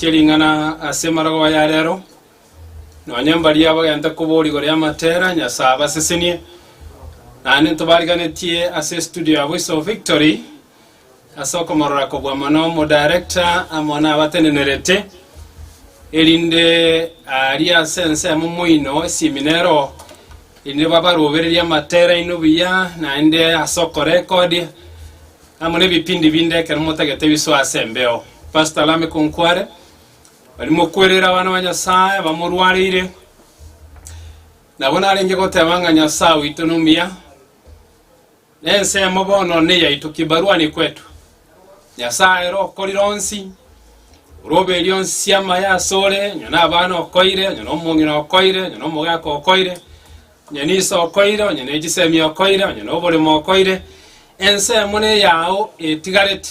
Chia ring'ana ase marogo aya arero, nonya mbaria bagenta koboria igoro y'amatera, Nyasae abasesenie. Naende ntobariganetie ase studio yabo iso Victory, ase okomorora kobua mono omodarector amo nabatenenerete, erinde aria ase ensemo moino esiminero, erinde babarobererie amatera aino buya, naende ase okorekodia, Amo nebipindi binde ekero motagete ebisu ase embeo. Pastor Lameck Onkware, bari mokwerere abana ba Nyasaye abamorwareire. Nabo narenge goteba ng'a Nyasaye oito nomuya. Na ensemo bono neyaito kibarua ni kwetu. Nyasaye ere okorire onsi, ore oberia onsi amaye asore, onye nabana okoire, onye nomong'ina okoire, onye nomogaka okoire, Onye niso okoire, onye nechisemi okoire, onye noboremo okoire, ensemo neyao etigareti,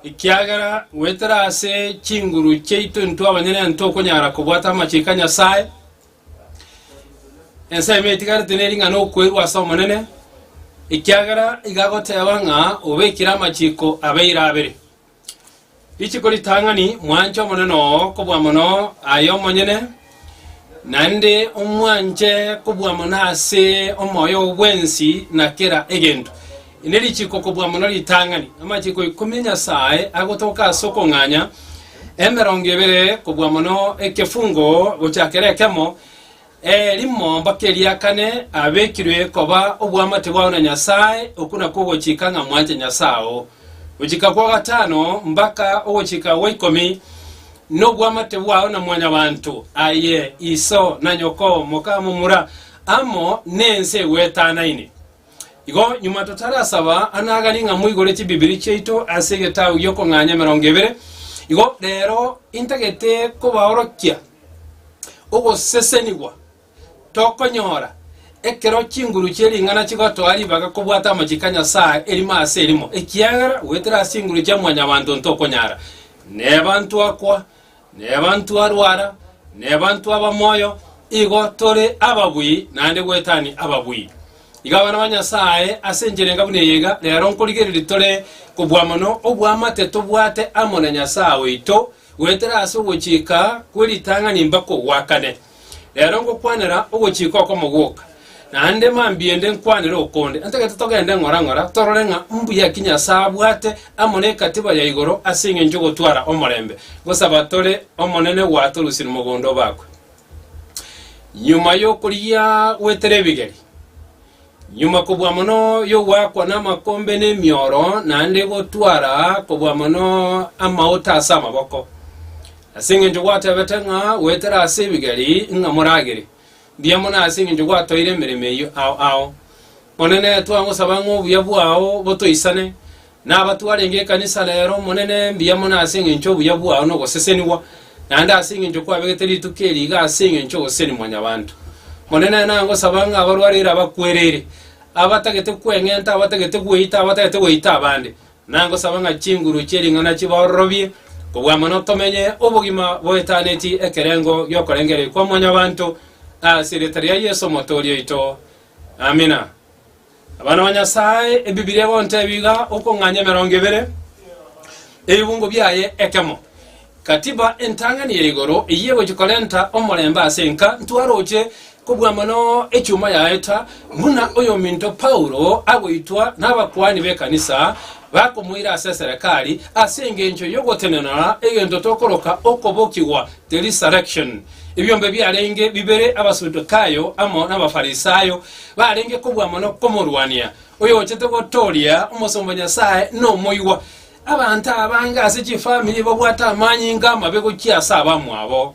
ekiagera goetera ase chinguru chiaito intwe abanyene ntokonyara kobwata amachiko a Nyasae. Ensemo etigareti ne ring'ana okoirwa ase Omonene, ekiagera igagoteba ng'a obekire amachiko abeire abere. Rituko ritang'ani mwanche Omonene oo kobua mono aye omonyene, naende omwanche kobua mono ase omoyo oo bwensi na kera egento. Iri nerichiko kobua mono ritang'ani, amachiko ikomi a Nyasae agotoka ase okong'anya, emerongo ebere kobua mono ekefungo gochakera ekemo, Ee, rimomba keria kane abekirwe koba oboamate bwao na Nyasae, okwo nakwo ogochika ng'a mwanche Nyasae oo. Gochika kwa gatano mbaka ogochika gwa ikomi noboamate bwao na mwanyabanto, aye iso, na nyoko, moka, momura, amo nense egwetanaine. Igo nyuma totarasaba anagani ng'a moigore chibibiri chiaito ase egetaabu gi'okong'anya emerongo ebere. Igo rero intagete kobaorokia ogosesenigwa tokonyora ekero chinguru chie ring'ana chigotoa ribaga kobwata amachiko a Nyasae erimo ase erimo, ekiagera goetera ase chinguru chia Mwanyabaanto ntokonyara, neba ntwakwa Nebanto arwara, nebanto aba moyo, igo tore ababui naende goetania ababui. Iga abana ba Nyasae, ase enchera enga buna eye iga rero nkorigereria tore kobua mono oboamate tobwate amo na Nyasae oito, goetera ase ogochika kwe ritang'ani mpaka ogwakane. Rero ngokwanera ogochika okomo gwoka, naende mambia ende nkwanere okonde. Ntagete togende ng'ora ng'ora, torore ng'a mbuya ki Nyasae abwate amo nekatiba ya igoro ase engencho y'ogotwara omorembe. Ngosaba tore Omonene gwatorusie nomogondo obakwe. Nyuma y'okorigia gwetera ebigeri. Nyuma kobua mono y'ogwakwa namakombe na emioro, naende gotwara kobua mono amauta ase amaboko, ase engencho gwateebete ng'a, Goetera ase ebigeri ng'a moragere, mbuya mono ase engencho gwatoire emeremo eyio ao ao. Omonene, twagosaba ng'a obuya bwao botoisane, Nabatwe arenge ekanisa reero, Omonene, mbuya mono ase engencho y'obuya bwao na ogosesenigwa, naende ase engencho kwabegete rituko eri iga ase engencho y'ogoseseni Mwanyabaanto. Omonene, nangosaba ng'a abarwarire abakwereire, abatagete kweng'enta, abatagete gweita, abatagete gweita abande, nangosaba ng'a chinguru chie ring'ana chibaororobie kobua amo notomenye obogima boetaneti ekerengo gi'okorengereria kwa Mwanyabaanto, ase erieta ria Yeso Omotooria oito. Amina. Abana ba Nyasae, Ebibilia egontebia iga, Okong'anya emerongo ebere ebibungo biaye ekemo. Katiba entang'ani ya igoro eyio egochia korenta omorembe ase enka, ntwaroche kobua mono echuma yaeta, buna oyominto Paulo agoitwa nabakuani b'ekanisa bakomoira ase eserekari ase engencho y'ogotenenora egento tokoroka okobokigwa The Resurrection. Ebiombe biarenge bibere Abasadukayo amo n'Abafarisayo barenge kobua mono komorwania, oyochete gotooria omosomba Nyasae nomoigwa. Abanto abange ase chifamiri babwate amanyinga amabe gochia ase abamwabo.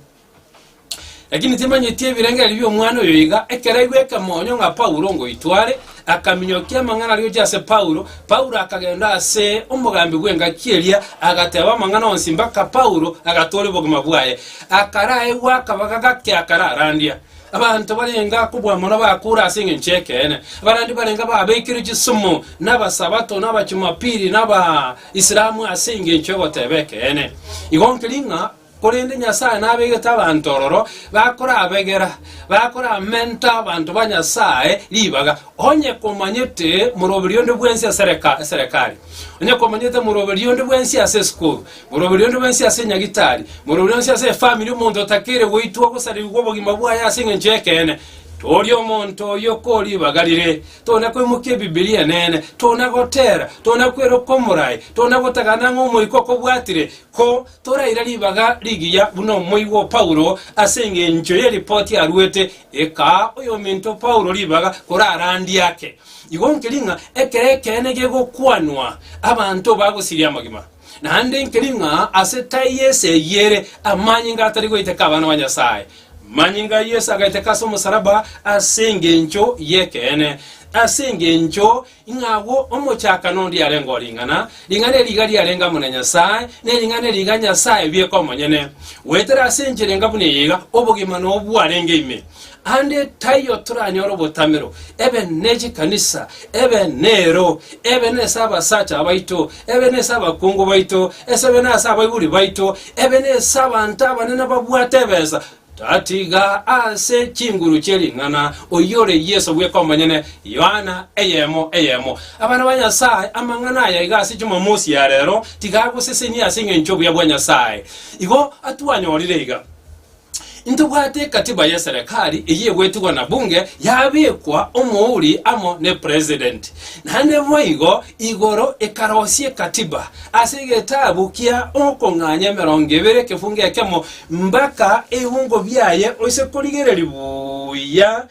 Lakini timanyeti ebirengererio bi'omwana oyo iga, ekero aigwete moonyo ng'a Paulo ngoitware, Akaminyokia amang'ana arioche ase Paulo. Paulo akagenda ase omogambi bw'engaki eria, agateeba amang'ana onsi mpaka Paulo agatoora obogima bwaye. Akaraegwa akabaga gake akararandia. Abanto barenge akobua mono bakoora ase engencho y'ekeene. Abarandia barenge babekerwe chisumu n'Abasabato, n'Abachumapili, n'Abaisilamu ase engencho y'ogoteeba ekeene. Igo nkeri ng'a Korende Nyasae nabegete abanto ororo bakorabegera, bakoramenta abanto ba Nyasae ribaga, onye komanyete moroberi onde bwensi ase eserekari, onye komanyete moroberi onde bwensi ase esukuru, moroberi onde bwensi ase nyagitari, moroberi onsi ase efamiri, omonto otakeire goitwa gosarigwa obogima bwaye ase engencho y'ekeene, toria omonto oyio ko ribaga rire, tona koimokia Ebibilia enene, tona gotera, tona kweroka omorai, tona gotagana ng'a Omoika okobwatire, ko Toraire ribaga rigiya buna omoigwa o Paulo ase engencho ye ripoti aruete, ekaa oyominto Paulo ribaga korarandie ake. Igo nkeri ng'a ekero ekeene gegokwanwa, abanto bagosiria amagima. Naende nkeri ng'a ase tai y'ense eyio ere amanyinga atari goiteka abana ba Nyasae. Amanyinga a Yeso agaiteka ase omosalaba ase engencho y'ekeene, ase engencho Ing'a agwo omochakano onde yarenge o ring'ana, ring'ana eri riga riarenge amo na Nyasae, ne ring'ana eri riga Nyasae bieka omonyene. Goetera ase enchera enga buna eye iga obogima nobo bwarenge ime. Ande taiyo toranyore obotamero, ebe nechikanisa, ebe neero, ebe nese abasacha baito, ebe nese abakungu baito, esebe nase abaibori baito, ebe nese abanto abanene babwate ebesa, Tatiga ase chinguru chie ring'ana oyore Yeso bweka omonyene, Yohana, eyemo eyemo. Abana ba Nyasae, amang'ana aya iga ase Jumamosi ya rero tiga agosesenie ase engencho y'obuya bwa Nyasae. Igo atwanyorire iga, Intobwate ekatiba y'eserekari eyio egwetigwa na Bunge, yabekwa omouri amo ne President. Naende boigo Igoro ekarosia ekatiba ase egetabu kia okong'anya emerongo ebere ekefungo ekemo mbaka ebiungo biaye oise korigereria buya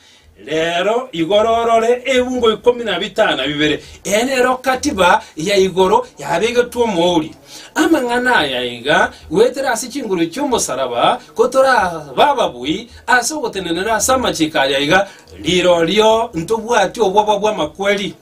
rero igoro orore ebiungo ikomi na bitano na bibere. Eye nero katiba ya igoro yabegetwe omouri. Amang'ana aya iga goetera ase chinguru chi'omosaraba kotorabe ababui ase ogotenenera ase amachiko aya iga rirorio ntobwati obwoba bw'amakweri.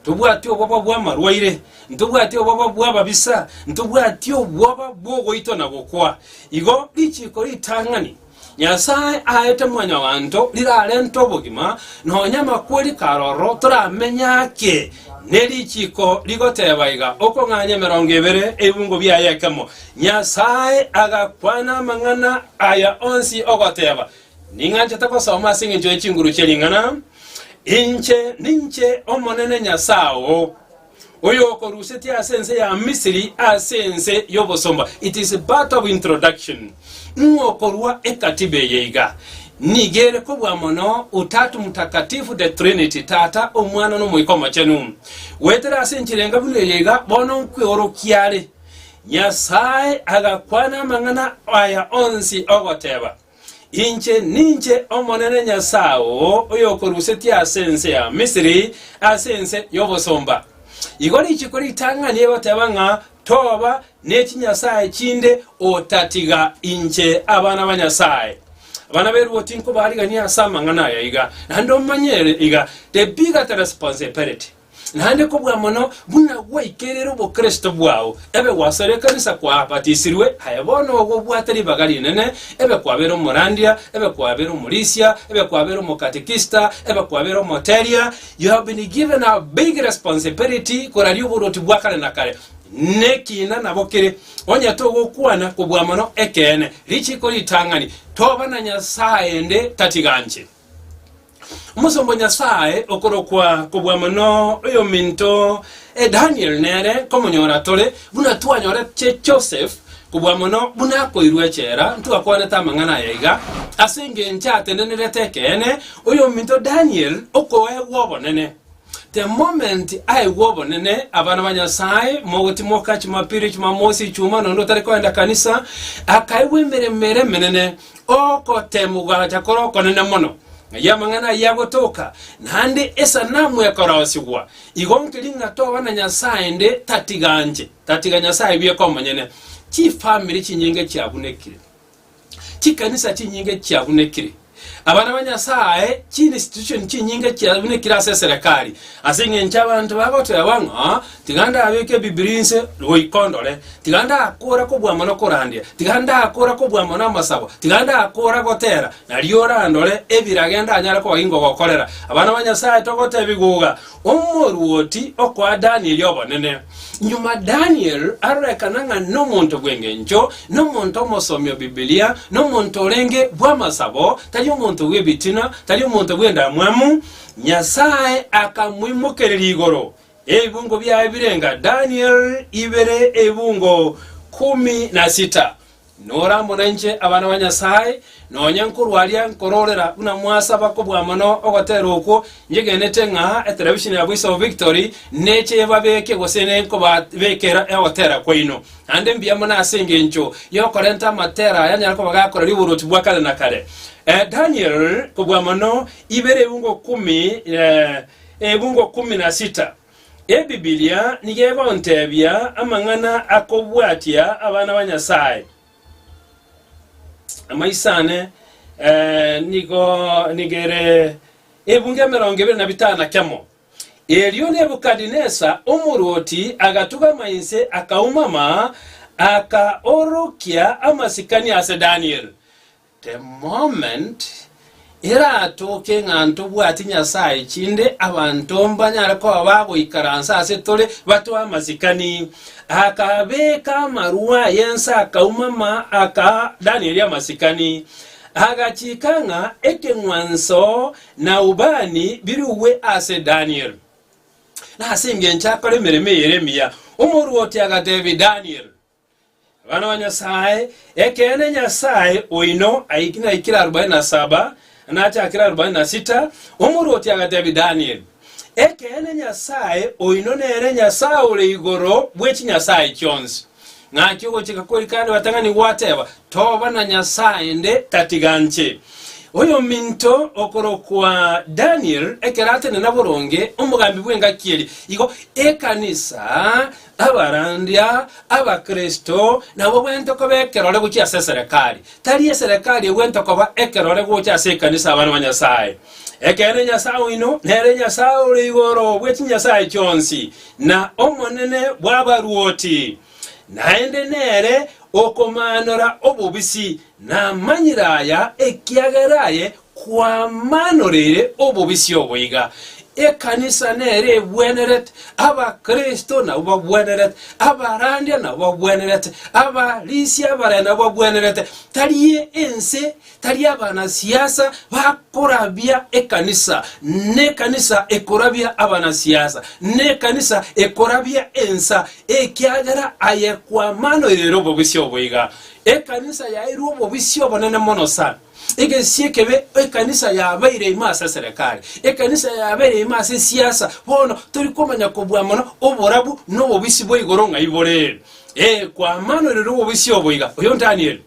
Ntobwati obwoba bw'amarwaire, ntobwati obwoba bw'ababisa, ntobwati obwoba bw'ogoitwa na gokwa. Igo richiiko ritang'ani Nyasae aete Mwanyabaanto rirarente obogima, nonya amakweri kare ororo toramenye ake. Ne richiiko rigoteeba iga, Okong'anya emerongo ebere ebibungo biaye ekemo. Nyasae agakwana amang'ana aya onsi ogoteeba, Ning'anchete gosoma ase engencho ye chinguru chie ring'ana, Inche ninche Omonene Nyasae oo, oyokorusetie ase ense ya Misiri, ase ense y'obosomba. It is part of introduction. Ng'a okorua ekatiba eye iga, nigo ere kobua mono, Utatu Mtakatifu, the Trinity, Tata, Omwana, na Omoika Omochenu. Goetera ase enchera enga buna eye iga, bono nkweorokia are. Nyasae agakwana amang'ana aya onsi ogoteba. Inche ninche Omonene Nyasae oo oyokorusetie ase ense ya Misiri, ase ense y'obosomba. Igo rituko ritang'ani egoteba ng'a toba ne chinyasae chinde otatiga inche. Abana ba Nyasae, abana b'eruoti, nkobariganie ase amang'ana aya iga, naende omanye ere iga, the bigger the responsibility. Naende kobua mono buna gwaikerire obokristo bwao, ebe gwasore ekanisa kwabatisirwe, aye bono ogo obwate ribaga rinene, ebe kwabeire omorandia, ebe kwabeire omorisia, ebe kwabeire omokatekista, ebe kwabeire omoteria, you have been given a big responsibility koraria oborwoti bwa kare na kare. Nekina nabo kere, onye togokwana kobua mono ekeene, richiko ritang'ani, toba na Nyasae ende tatiganche. Omosomba o Nyasae okorokwa kobua mono oyominto Daniel nere komonyora tore, buna twanyorete Joseph kobua mono buna akoirwe echela, ntwakwanete amang'ana aya iga, ase engencho atendenerete ekeene oyominto Daniel okoegwa obonene. The moment aigwa obonene, abana ba Nyasae, mogotimoka chimapiri, chimamosi, ichuma, nonya onde otari koenda kanisa, akaigwa emeremo ere emenene, Ogoteemwa gwagocha kore okonene mono, ng'ai amang'ana ayio agotoka, naende esanamu ekorosigwa. Igo nkeri ng'a toba na Nyasae 'nde tatiga anche, tatiga Nyasae bweka omonyene. Chifamiri chinyinge chiabunekire. Chikanisa chinyinge chiabunekire. Abana ba Nyasae, chiinstitution chinyinge chiabunekire ase eserekari, ase engencho abanto bagoteeba ng'a Tiga ndabeke ebibiria inse goika ondore, tiga ndakora kobua mono korandia, tiga ndakora kobua mono amasabo, tiga ndakora gotera, nario orandore ebirage ndanyare koba inkogokorera. Abana ba Nyasae togotebia goga omoruoti okoa Danieli obonene. Nyuma Daniel arorekana ng'a nomonto bw'engencho, nomonto omosomi o Bibilia, nomonto orenge bw'amasabo, tari omonto bw'ebitina, tari omonto bw'endamwamu. Nyasae akamoimokereria igoro, Ebibungo biaye birenga, Daniel ibere ebibungo kumi na sita. Norambo nainche, abana ba Nyasae, nonya nkorwa aria nkororera buna mwasaba kobua mono ogoteera okwo, nyegenete ng'a etelevisheni ya Voice of Victory neche ebabeke gose nenkobabekera egoteera kwaino. Naende mbuya mono ase engencho yokorenta amateera aya anyare koba gakoreria oborwoti bwa kare na kare. Eh, Daniel kobua mono ibere ebibungo kumi eh, Ebugo kumi na sita. Ebibilia nigo egontebia amang'ana akobwatia abana ba Nyasae. Amaiso ane nigo nigo ere ebungo emerongo ebere na bitano na kemo. Erio Nebukadinesa omorwoti agatugama inse, akaumama, akaorokia amasikani ase Daniel. The moment eratoke ng'a ntobwati Nyasaye chinde, abanto mbanyare koba bagoikaransa ase tore batoe amasikani. Akabeka amarua y'ense akauma ma akaa Danieli amasikani. Agachika ng'a ekeng'wanso na ubani birugwe ase Daniel. Nase engencho akora emeremo eyere emiya. Omorwoti agatebia Daniel, Abana ba Nyasae, ekeene Nyasae oino aikire aikire arobaini na saba, nachakire arobaini na sita, omorwoti agateebia Danieli, Ekeene Nyasae oino nere Nyasae ore igoro bwe chinyasae chionsi. Ng'aki ogochika kweri kande batang'ani gwateeba, Toba na nyasae nde tatiga nche. Oyominto okorokwa Daniel ekero atenena boronge omogambi bw'engaki eria, igo ekanisa Abarandia Abakristo nabo gwento koba ekerore gochia ase eserekari, tari eserekari egwento koba ekerore gocha ase ekanisa abana ba Nyasae. Ekeene Nyasae oino nere Nyasae ore igoro bwe chinyasae chionsi, na Omonene bw'abaruoti, naende nere okomaanora obobisi namanyire aya ekiagera aye Kwamanoreire obobisi obo iga, ekanisa nere egwenerete, Abakristo nabwo bagwenerete, abarandia nabwo bagwenerete, abarisia abaraya nabwo bagwenerete, tari ense, tari abanasiasa bakorabia ekanisa, nekanisa ekorabia abanasiasa, nekanisa ekorabia ensa, ekiagera aye kwamanoire ere obobisi obo iga. Ekanisa yaeirwe obobisi obonene mono sana. Egensi ekebe ekanisa yabeire ime ase eserekari, ekanisa yabeire ime ase esiasa, bono tori komanya kobua mono oborabu na obobisi bwa igoro ng'ai bore. Ee, kwamanoirwe nobobisi obo iga. Oyo Danieli.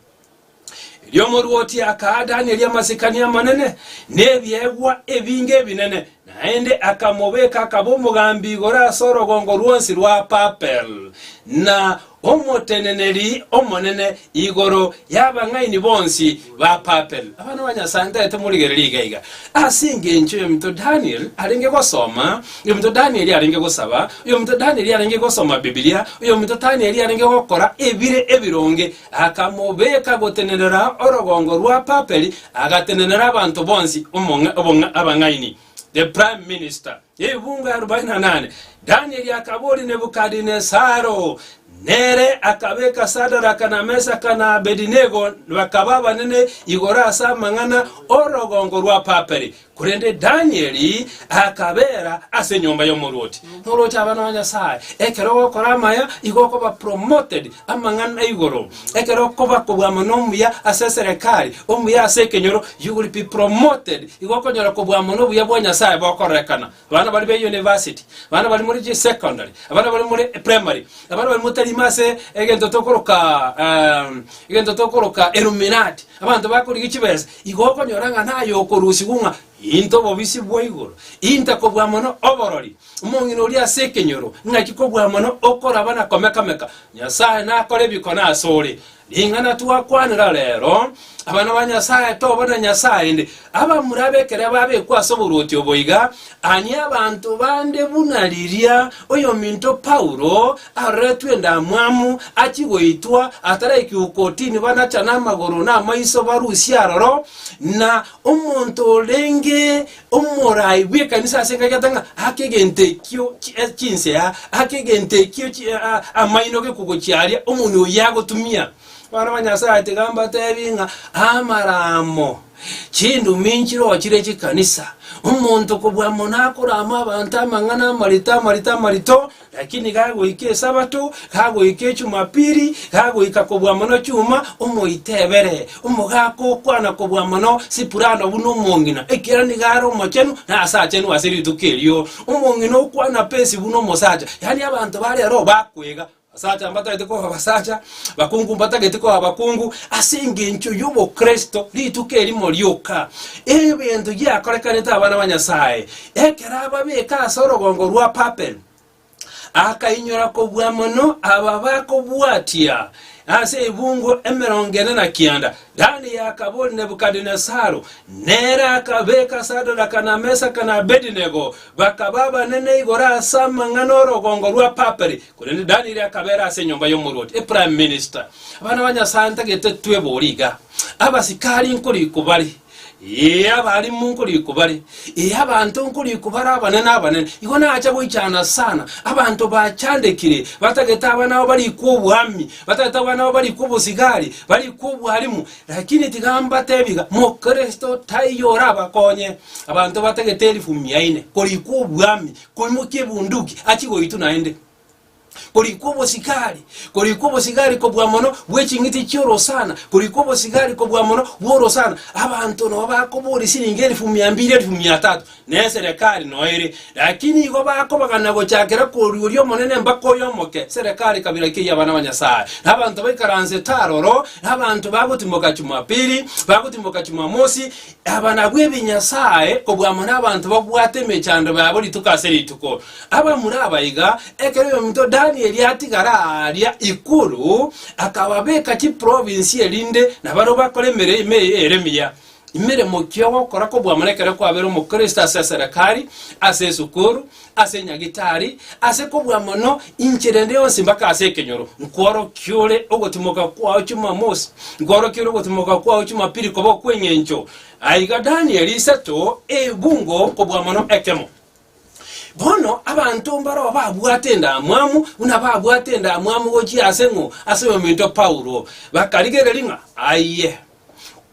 Erio omorwoti akaa Danieli amasikani amanene, na ebiegwa ebinge ebinene, naende akamobeka akaba omogambi igoro ase orogongo rwonsi rwa Papel, na Omoteneneri omonene igoro y'abang'aini bonsi ba Papel. Abana ba Nyasae, ntaete morigererie iga iga, ase engencho y'ominto Daniel arenge gosoma, oyominto Daniel arenge gosaba, oyominto Daniel arenge gosoma Bibilia, oyominto Daniel arenge gokora ebire ebironge, akamobeka gotenenera orogongo rwa Papel, agatenenera abanto bonsi, omong'a, obong'a, abang'aini, the prime minister. Chibungo arobaini na nane. Danieli akaboria Nebukadinesaro, nere akabeka Sadaraka na Mesaka na Abedinego bakaba abanene igoro ase amang'ana orogongo rwa Papiri, korende Danieli akabeera ase enyomba y'omorwoti. Norwoti abana ba Nyasae, ekero ogokora amaya igo okoba promoted amang'ana igoro. Ekero okoba kobua mono omuya ase eserekari, omuya ase ekenyoro, you will be promoted. Igo okonyora kobua mono obuya bwa Nyasae bokororekana. Abana baria be university, abana baria more secondary, abana baria more primary, abana baria motarima ase egento tokoroka ehm, egento tokoroka illuminati, abanto bakorigia chibesa, igo okonyora ng'a naye okorusigwa ng'a, Into obobisi bwa igoro, Inte kobua mono oborori, Omong'ina oria ase ekenyoro, naki kobua mono okoraba na komeka-meka! Nyasae nakore bikone asore. Ring'ana twakwanera rero, abana ba Nyasae toba na nyasae ende, abamura bekere babekwa ase oborwoti obo iga, ani abanto bande buna riria oyominto Paulo aroretwe endamwamu achie goitwa ataraikigwe kortini banachane amagoro na amaiso barusie aroro, na omonto orenge Omorai bw'ekanisa ase enka egete ng'a ake egento ekio chi- eh, chinsea, ake egento ekio chi- eh, ah, amaino gekogochia aria, omoni oyio agotumia. Abana ba Nyasae ati iga mbatebi ng'a amaramo chindumi nchirochire chikanisa, omonto kobua mono akorama abanto amang'ana amarito amarito amarito, Lakini gagoika Esabato, gagoika Echumapiri, gagoika kobua mono chuma, omoite ebere, omogaka okwana kobua mono sipurano buna omong'ina, ekiagera nigo are omochenu na asachenu ase rituko erio. Omong'ina okwana pesi buna omosacha, yaani abanto bare aro bakwega, abasacha mbatagete koba abasacha, abakungu mbatagete koba abakungu, ase engencho y'obokristo, rituko erimo rioka, ebento giakorekanete abana ba Nyasaye, Ekero ababeke ase orogongo rwa Papel, akainyora kobua mono aba bakobwatia ase ebungo emerongo ene na kianda. Danieli akaboria Nebukadinesaro, nere akabeka Sadoraka na Mesaka na Abedinego, bakaba abanene igoro ase amang'ana 'orogongo rwa Papel, korende Danieli akabeera ase enyomba y'omorwoti, eprime minister. Abana ba Nyasae ntagete twebore iga, abasikari nkorikwa bare. Ee, abarimu nkorikobare, ee, abanto nkorikobare abanene abanene, igo nacha goichana sana, abanto bachandekire, batagete abana babo barikwe oboami, batagete abana babo barikwe obosigari, barikwe obwarimu, lakini tiga mbatebi iga, mokristo taiyo orabakonye, abanto batagete elifu mia ine korikwa oboami, koimokia ebunduki, achigoitwa naende. korikwa obosigari, korikwa obosigari kobua mono bw'eching'iti chi'orosana, korikwa obosigari kobua mono bw'orosana. Abanto nao bakoboria siringi elifu mia mbiri, elifu mia tatu, na eserekari nao ere. Lakini igo bakobagana gochakera koria oria omonene mbaka oyo omoke, eserekari kabira keyio abana ba Nyasae. Na abanto baikaranse taro oroo, na abanto bagotimoka Chumapili, bagotimoka Chumamosi, Abanabwo ebinyasae oboamo nabanto babwate emechando yabo rituko ase rituko. Abamura abaiga, ekero oyominto Danieli atigara aaria igoro, akababeka chiprovinsi erinde nabarabwo bakore emeremo ime ere miya. Emeremo ki ogokora koboamo nekero kwabeire omokristo ase eserekari, ase esukuru, ase Nyagetari, ase kobua mono inche rende yonsi mpaka ase ekenyoro, nkworokia ore ogotimoka kwao Chumamosi, nkworokia ore ogotimoka kwao Chumapiri koba okw'engencho. Aiga Danieli isato ebungo kobua mono ekemo. Bono abanto mbaroo babwate endamwamu buna babwate endamwamu gochia ase ng'o ase oyominto Paulo, bakarigereria ng'a aye.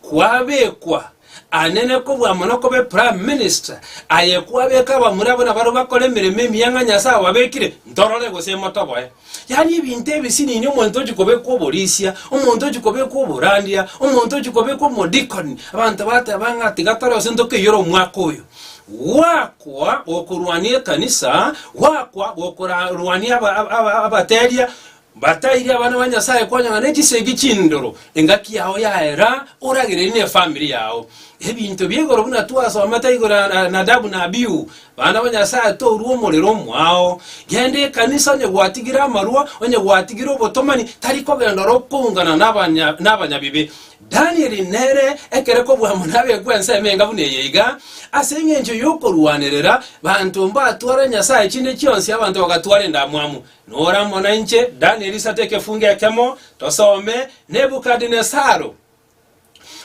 kwabekwa anene kobua mono kobe prime minister, aye kwabeka abamura abwo nabarwo bakore emeremo emiya ng'a Nyasae ababekire ntorore gose motoboe. Yaani ebinto ebi sinini omonto ochi kobekwa oborisia, omonto ochi kobekwa oborandia, omonto ochi kobekwa omodikoni, abanto bateba ng'a tiga tore gose ntokeiore omwaka oyo. Gwakwa gokorwania ekanisa, gwakwa gokorwania aba- aba- aba- abateria, Mbatairie abana ba Nyasae konya ng'a ne chisegi chindoro, engaki yao yaera, oragererie ne efamiri yao. Ebinto bia igoro buna twasomete igoro ya Na- Nadabu na Abihu, bana ba Nyasae torue omorero omwao. Genda ekanisa onye gwatigire amarua, onye gwatigire obotomani, tari kogenda oro okoungana nabanya- nabanyabibe. Danieli nere ekere kobua amo nabekwe ense emenga buna eye iga, ase engencho yokorwanerera banto mbatware Nyasae chinde chionsi abanto bagatwara endamwamu. Nora amo nainche, Danieli sata ekefungo ekemo, tosome, Nebukadinesaru,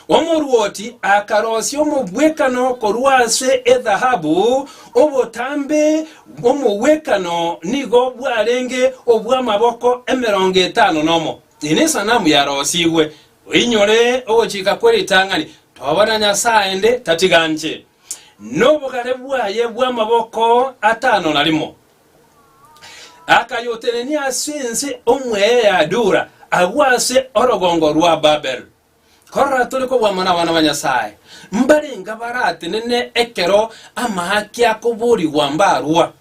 omorwoti akarosia omogwekano korwa ase ethahabu, obotambe bw'omogwekano nigo bwarenge obw'amaboko emerongo etano nomo, eye nesanamu yarosigwe. Oinyore ogochika kwe ritang'ani, tobana Nyasae 'nde tatiga nche, nobogare bwaye bw'amaboko atano na rimo. Akayotenenia ase ense omweye ya Dura, agwo ase orogongo rwa Babel. Korora tore kobwamwa nabana ba Nyasae, mbarenge abaratenene ekero amaaki akoborigwa mbarwa.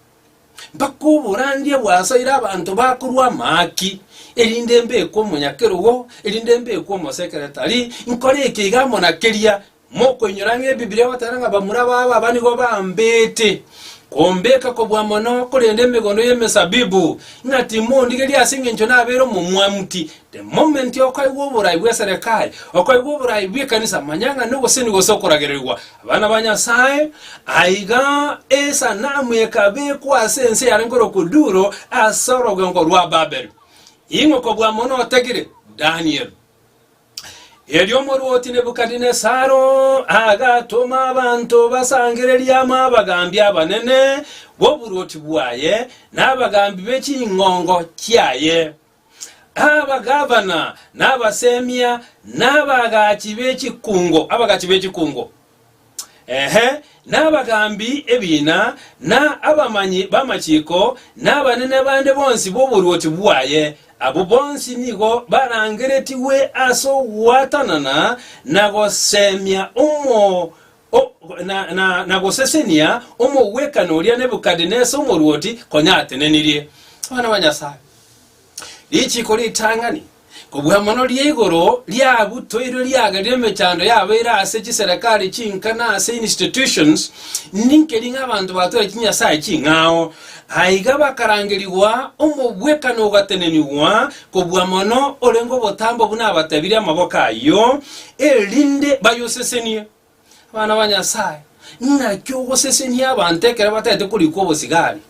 Mpaka oborandia bwasaire abanto bakorwa amaaki, erinde mbekwe omonyakerogo, erinde mbekwe omosekeretari, nkore eke iga amo na keria, Mokoinyora ng'a Ebibilia egoteba ng'a bamura babo aba nigo bambete kombeka kobua mono, korende emegondo y'emesabibu ng'a timondigeria ase engencho nabeire omomwamuti. The moment okoigwa oboraai bw'eserekari, okoigwa oboraai bw'ekanisa, manya ng'a nogoseni gose okoragererigwa. Abana ba Nyasae, aiga esanamu ekabekwa ase ense eyarenge ore okwo Duro ase orogongo rwa Babeli. Ing'o kobua mono otagire? Daniel. Erio omorwoti Nebukadinesaro agatoma abanto basangererie amo abagaambi abanene b'oborwoti bwaye, na abagaambi be ching'ongo chiaye, abagavana, na abasemia, na abagachi be chikungo, abagachi be chikungo. Ehe, n'abagaambi ebiina, na abamanyi b'amachiko, na abanene bande bonsi b'oboruoti bwaye, abwo bonsi nigo barangeretigwe ase ogwatanana na goseemia omo, o, na, na, na gosesenia omogwekano oria Nebukadnesa omoruoti konya atenenirie. Abana ba Nyasae, richiiko ritang'ani. Kobua mono ria igoro riabutoirwe riagerire emechando yabo ere ase chiserekari chinka na ase institutions ninkeri ng'a abanto batore chinyasae ching'ao. Aiga bakarangerigwa omobwekano ogatenenigwa kobua mono orenge obotambe buna abatebire amaboko ayio, erinde bayosesenie. Abana ba Nyasae, naki ogosesenia abanto ekero bataete korikwa obosigari,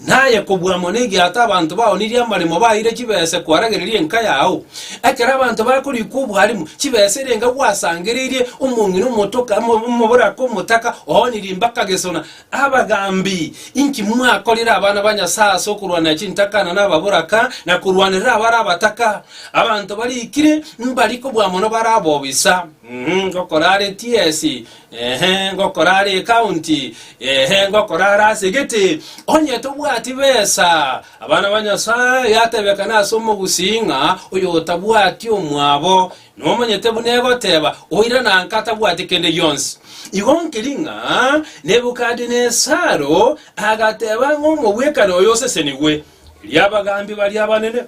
na aye kobua amo negiato abanto baonirie amaremo baeire chibese kwaragereria enka yao? Ekero abanto bakorikwa obwarimu, chibese ere enka gwasangereirie omong'ina omotoka omo- omoboraka omotaka oonirie mpaka gesona. Abagambi! Inki mwakorire abana ba Nyasae ase okorwanera chintakana na ababoraka, na korwanerera abare abataka? Abanto barikire mbari kobua mono bare abobisa. Uhum, ngokora are TS, ehe, ngokora are ecounty, ehe, ngokora are ase gete, onye tobwati besa, abana ba Nyasaye, yatebekana ase omogusii ng'a oyo otabwati omwabo, nomonyete buna egoteba, oira na nka tabwati kende gionsi. Igo nkeri ng'a Nebukadinesaro agateba ng'a omobwekano oyo osesenigwe, erio abagambi baria abanene,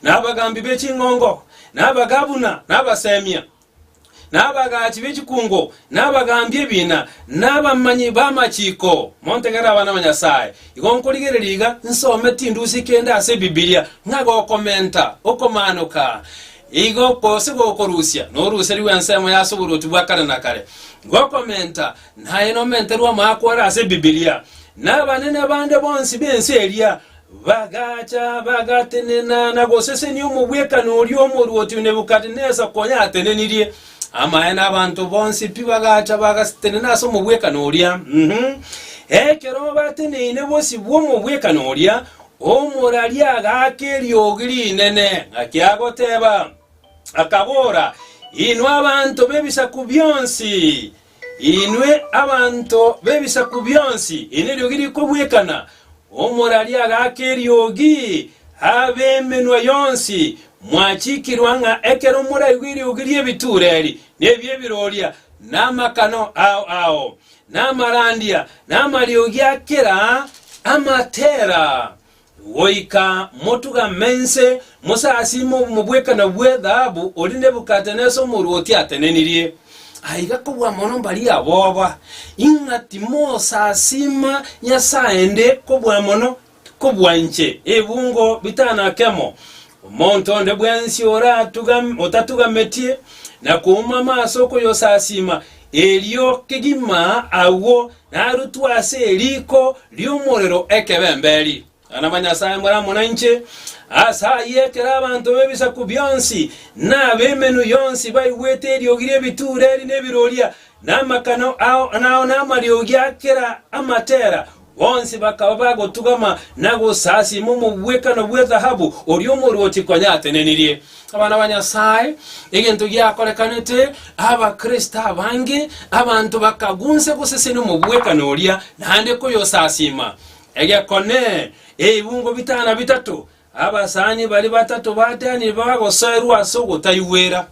na abagaambi be ching'ongo, na abagabuna, na abaseemia, na abagaachi be chikungo, na abagaambi ebiina, na abamanyi b'amachiko. Montegere abana ba Nyasae. Igo nkorigereria iga nsome tindusi kende ase Ebibilia, ng'a gokomenta, okomaanoka, igo gose gokorusia noruserigwe ensemo y'ase oboruoti bwa kare na kare. Gokomenta, naye nomenterwe amaakwa ore ase Ebibilia, na abanene bande bonsi b'ense eria, Bagaacha, bagatenena na gosesenia omogwekano oria omoruoti o Nebukadnesa konya atenenirie. Amaene abanto bonsi pi bagacha bagastenena ase omogwekano oria. Ekero bateneine bosio bw'omogwekano oria, omoraria agaaka eriogi rinene, ng'aki agoteeba, akabora, Inwe abanto b'ebisaku bionsi, Inwe abanto b'ebisaku bionsi, eri neriogi rikobwekana, Omorari agaaka eriogi, ab'emenwa yonsi mwachikirwa ng'a ekero moraigwe eriogi ri'ebituureri, na ebi'ebiroria, na amakano ao ao, na amarandia, na amariogi a kera amatera. Goika motugame inse, mosasiime obomo bw'ekana bw'ethahabu oria Nebukadnesa omorwoti atenenirie. Aiga kobua mono mbaria aboba, ing'a timosasiima nyasae ende kobua mono kobua inche, ebungo bitano akemo, Omonto onde bwensi otatugamitie na koumama ase okoyosasiima, erio kegima agwo narutwe ase eriiko ri'omorero ekebemberi. Abana ba Nyasae more amo nainche. Ase ayio ekero abanto b'ebisaku bionsi na ab'emenwa yonsi baigwete eriogi ri'ebituureri na ebiroria, na amakano ao, na amariogi a kera amatera, Bonsi bakaba bagotugama na gosasiima omobwekano bwe dhahabu oria omorwoti kwayatenenirie. Abana ba Nyasae, egento giakorekanete, Abakristo abange, abanto bakagunsa gosesenia omobwekano oria naende koyosasiima. Egekone, ebibungo bitana bitato, abasani baria batato ba Danieli bagosoerwa ase ogotaigwera.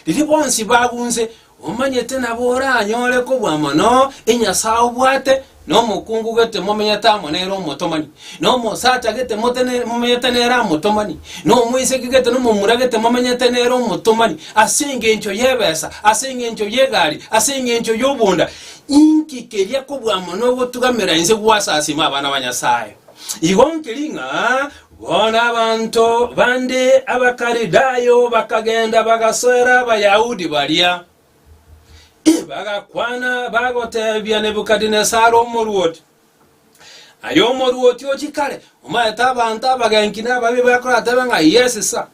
Riria bonsi bagunse, omanyete nabo oranyore kobua mono enyasae obwate, na omokungu gete momenyete amo nere omotomani, na omosacha gete motene- momenyete nere amotomani, na omoiseke gete na omomura gete momenyete nere omotomani, ase engencho y'ebesa, ase engencho y'egari, ase engencho y'obonda. Inki keria kobua mono ogotugamera inse gwasasima abana ba Nyasae? Igo nkeri ng'a Bono abanto bande Abakalidayo bakagenda bagasoera Abayahudi baria, bagakwana, bagoteebia Nebukadinesari omoruoti, Aye omoruoti ochikare, omaete abanto abagenki na ababe bakoratebe ng'a Yesisa.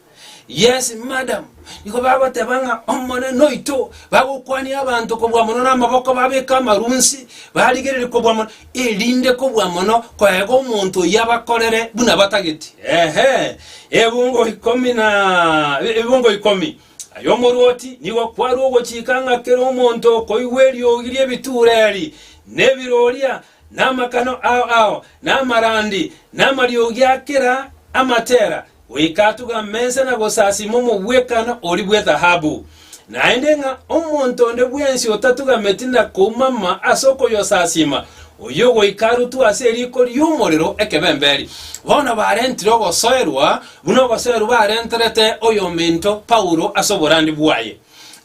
Yes, madam, nigo bagoteba ng'a Omonene oito, bagokwania abanto kobua mono namaboko babeke amarunsi, barigererie kobua mono, erinde kobua mono koega omonto oyio abakorere buna batageti. Ehe, ebungo ikomi na ebungo ikomi. Aye omorwoti nigo kwarue ogochika ng'a kera omonto okoigwa eriogi ri'ebiture eri, na ebiroria, na amakano ao ao, na amarandi, na amariogi a kera amatera, goika atuga amesa na gosasima omogwekano oria bw'ethahabu. Naende ng'a omonto onde bwensi otatugameti na koumama ase okoyosasima, oyio goika arutwe ase eriiko ri'omorero ekebemberi. Bono barentire ogosoerwa, buna ogosoerwa barenterete oyominto Paulo ase oborandia bwaye.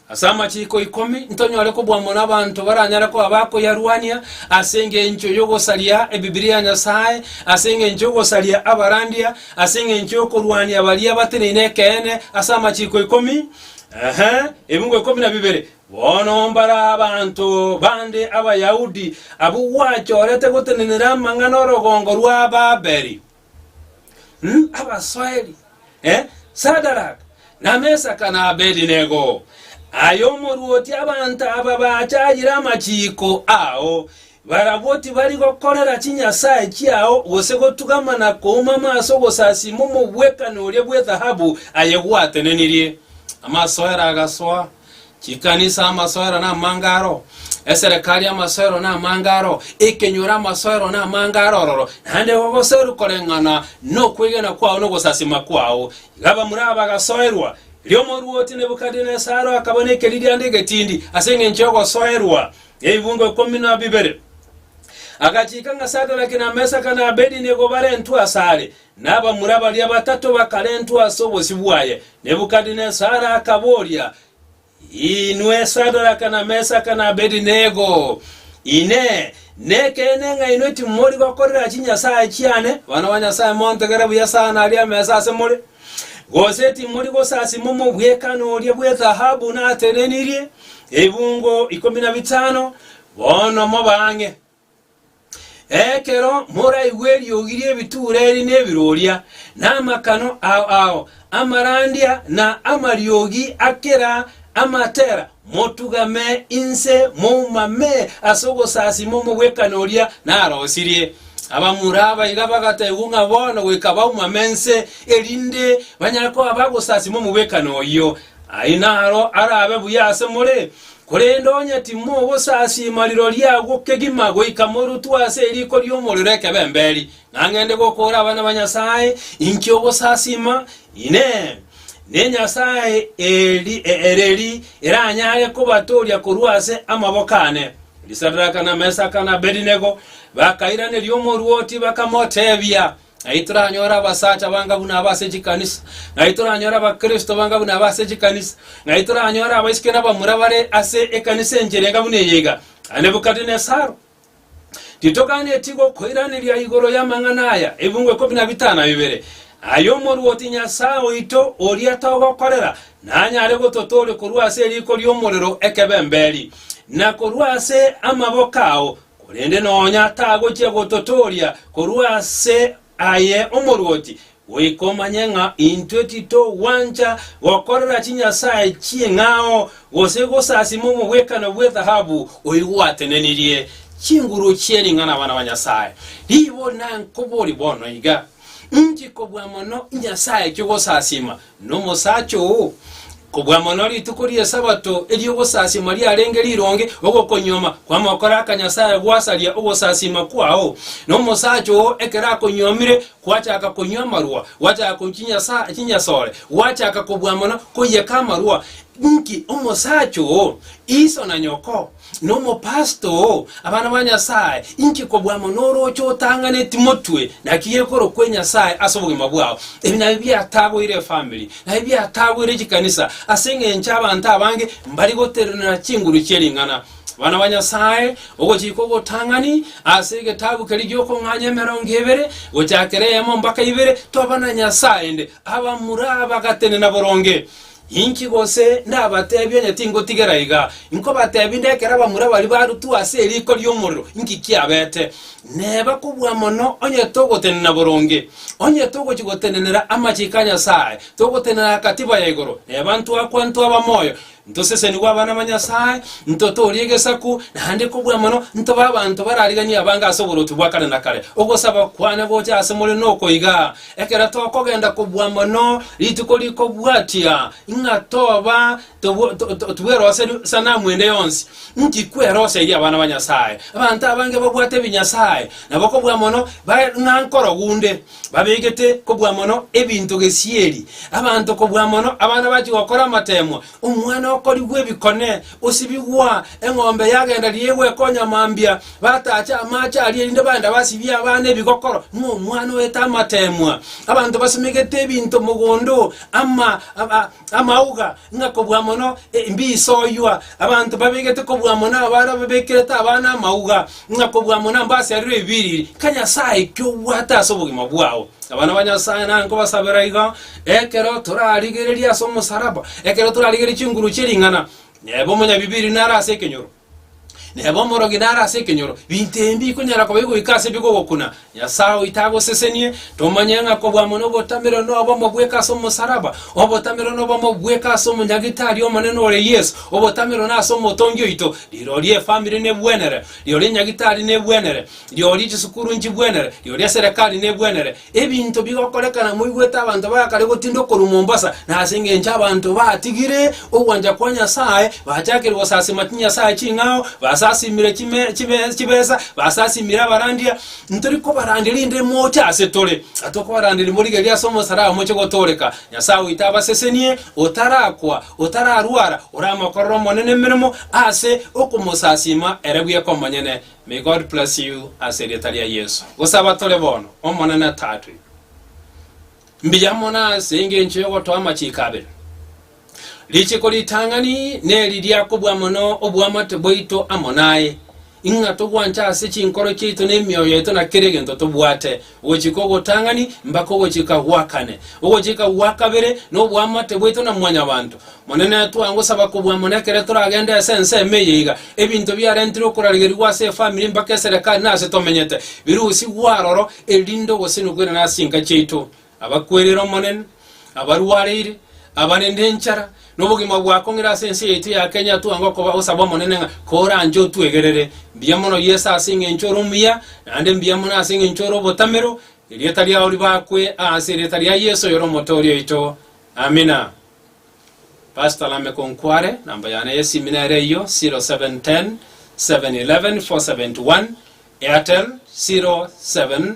Ase amachiiko ikomi ntonyore kobwamwa nabaanto baranyare koba bakoyarwania ase engencho y'ogosaria Ebibilia ya Nyasae, ase engencho y'ogosaria abarandia, ase engencho y'okorwania baria bateneine ekeene ase amachiiko ikomi, ehe, ebingo ikomi na bibere. Bono mbare abanto bande Abayahudi abwo gwachorete gotenenera amang'ana 'orogongo rwa Babeli. Hu, abasoeri, eh, Sadaraka, na Mesaka, na Abedinego, aye omorwoti abanto aba bachayire amachiiko ao, barabwo tibari gokorera chinyasae chiao gose gotugama na koumama ase ogosasiima omogwekano oria bw'ethahabu aye gwatenenirie. Amasoero agasoa. Chikanisa amasoero namange aro, eserekari amasoero namange aro, ekenyoro amasoero namange aro ororo, naende gogoserwa koreng'ana nokwegena kwao na ogosasima kwao. Iga bamura aba bagasoerwa. Erio omorwoti Nebukadinesaro akaba nekeririanda egetindi ase engencho y'ogosoerwa ebibuungo ikomi na bibere. Agachiika ng'a Sadaraki, na Mesaki, na Abedinego barentwe asare, Na abamura baria batato bakarentwa ase obosio bwaye. Nebukadinesari akaboria, Inwe Sadaraka, na Mesaka, na Abedinego, Inee, nekeene ng'a inwe timori gokorera chinyasae chiane, abana ba Nyasae montogere buya sana aria ameso ase more? Gose timori gosasima omobwekano oria bw'ethahabu naterenirie ebungo ikomi na bitano? Bono moba ang'e. Ekero moraigwe eriogi ri'ebituureri na ebiroria, na amakano ao ao amarandia, na amariogi a kera amatera, motugame inse moumame ase ogosasima omogwekano oria narosirie. Abamura abaiga bagataigwa ng'a bono goika baumame inse, erinde banyare koba bagosasima omogwekano oyio. Aye naro arabe buya ase more. Korende onye timogosasiima rirorio agwo kegima goika morutwe ase eriiko ri'omorero ekebemberi, nang'ende gokora abana ba Nyasae, inki ogosasiima? Inee! Nenyasae ereri eranyare kobatooria korwa ase amaboko aane? Risadraka, na Mesaka, na Abedinego bakairaneria omorwoti, bakamoteebia, Nai toranyore abasacha banga buna aba ase chikanisa, nai toranyore Abakristo banga buna aba ase chikanisa, nai toranyore abaisiki na abamura bare ase ekanisa enchia erenga buna eye iga. A Nebukadinesaro, titoganetie gokoiraneria igoro y'amang'ana aya, Ebiungo ikomi na bitano na bibere, ay'Omoruoti Nyasae oito, oria togokorera, nanyare gototooria korwa ase eriiko ri'omorero ekebemberi, na korwa ase amaboko ao, Korende nonya tagochia gototooria korwa ase aye omorwoti, goika omanye ng'a intwe titogwancha gokorera chinyasae chi'eng'ao, gose gosasima omogwekano bw'ethahabu oigwatenenirie chinguru chie ring'ana abana ba Nyasae. Riibo nankobori bono iga, Inchikobua mono inyasae chio gosasima, Nomosacha oo, kobua mono rituko ri'Esabato eri'ogosasiima riarenge rironge, ogokonyuoma kw'amokora aka Nyasae gwasaria ogosasiima kwao. Nomosacha oo ekero akonyuomire, gwachaka konywa amarwa, gwachaka konywa chinyasore, gwachaka kobua mono koiyeka amarwa. Inki omosacha oo? Iso na nyoko, Nomopasito oo, abana ba Nyasae, inki kobua amo norooche otang'aneti motwe naki gekorokwa enyasae ase obogima bwao? Ebi nabio biatagoire efamiri, nabio biatagoire chikanisa, ase engencho abanto abange mbari goterenera chinguru chie ring'ana. Abana ba Nyasae, ogochika ogotang'ani ase egetabu keria giokong'anya emerongo ebere, gochakera eyemo mbaka ibere, toba na nyasae ende, abamura abagatenena boronge. Inki gose ndabateebie onye tingotigera iga? Inkobateebia inde ekero abamura baria barutwa ase eriiko ri'omorero, inki kiabete? Neba kobua mono onye togotenena boronge. Onye togochia gotenenera amachiko a Nyasae, togotenenera akatiba ya igoro, neba ntwakwa ntwaba moyo, ntosesenigwe abana ba Nyasae, ntotoorie egesaku, naende kobua mono, ntobe abanto barariganie abange ase oboruoti bwa kare na kare. Ogosaba kwane gocha ase more noko iga, Ekero tokogenda kobua mono, rituko rikobwatia ng'a toba tibweroseria sanamu ende yonsi, inki kweroseirie abana ba Nyasae? Abanto abange babwate ebinyasae, na bokobua mono bare ng'a nkorogu nde, babegete kobua mono ebinto gesieri, abanto kobua mono abana bachia gokora amateemwa, Omwana okorigwa ebikone, osibigwa, eng'ombe yagenda riria egwekonya mambia, batacha amaache aria erinde bagende basibie abana ebigokoro, ng'a omwana oete amateemwa. Abanto basimegete ebinto mogondo, ama, aba, amauga, ng'a kobua mono e- mbisoywa. Abanto babegete kobua mono abare ababekerete abana amauga, ng'a kobua mono mbasiarerwe ebiriri. Nka Nyasae, ki obwate ase obogima bwao? Abana ba Nyasae nankobasabera igo. Ekero torarigereria ase omosalaba, ekero torarigereria chinguru chie ring'ana, neba omonyabibiiri nare ase ekenyoro, neba omorogi nare ase ekenyoro, binto ebi mbikonyara koba bigoika ase bigogokuna. Nyasae oito agosesenie tomanye ng'a kobua mono obotamerero nobe omobweke ase omosalaba, obotamerero nobe omobweke ase omonyagitari omonene ore Yeso, obotamerero nase omotongi oito, rirorio efamiri nebwenere, rirorio enyagitari nebwenere, rirorio chisukuru nchibwenere, rirorio eserekari nebwenere, Ebinto bigokorekana moigwete abanto ba kare gotinda korwa Mombasa, na ase engencho abanto batigire ogwancha kwa Nyasae, bachakire gosasima chinyasae ching'ao, basasimire chibesa, basasimire abarandia. Ntori kobarandia rinde moche ase tore, atokobaranderia mborigereria ase omosalaba moche gotooreka. Nyasae oito abasesenie, otarakwa, otararwara, oramokorere Omonene emeremo ase okomosasima ere bweka omonyene. May God bless you ase erieta ria Yesu. Gosaba tore bono, Omonene Tatwe, mbuya mono ase engencho y'ogotoa amachiko abere. Richiko ritang'ani neri ria kobua mono oboamate bwaito amo naye, ing'a togwanche ase chinkoro chiaito n'emioyo yaito na kera egento tobwate, Ogochika ogotang'ani mbaka ogochika gwa kane. Ogochika gwa kabere noboamate bwaito na mwanyabanto. Monene, twangosaba kobua mono ekero toragende ase ense ime eye iga, ebinto biarentirwe okorarigerigwa ase efamiri mbaka eserekari na ase tomenyete, birusigwe aroro, erinde ogosenu kwene na ase chinka chiaito. Abakwerire Omonene. abarwareire, abarende enchara, na obogima bwa kong'ira ase ense yaito ya Kenya, twange okoba osaba Omonene ng'a koranche otwegerere. Mbuya mono Yeso ase engencho ore omuya, naende mbuya mono ase engencho ore obotamero, erieta riao ribakwe ase erieta ria Yeso oyore Omotoori oito. Amina. Pastor Lameck Onkware, namba yane y'esimi nere eyio, 0710 711 471, Airtel, 07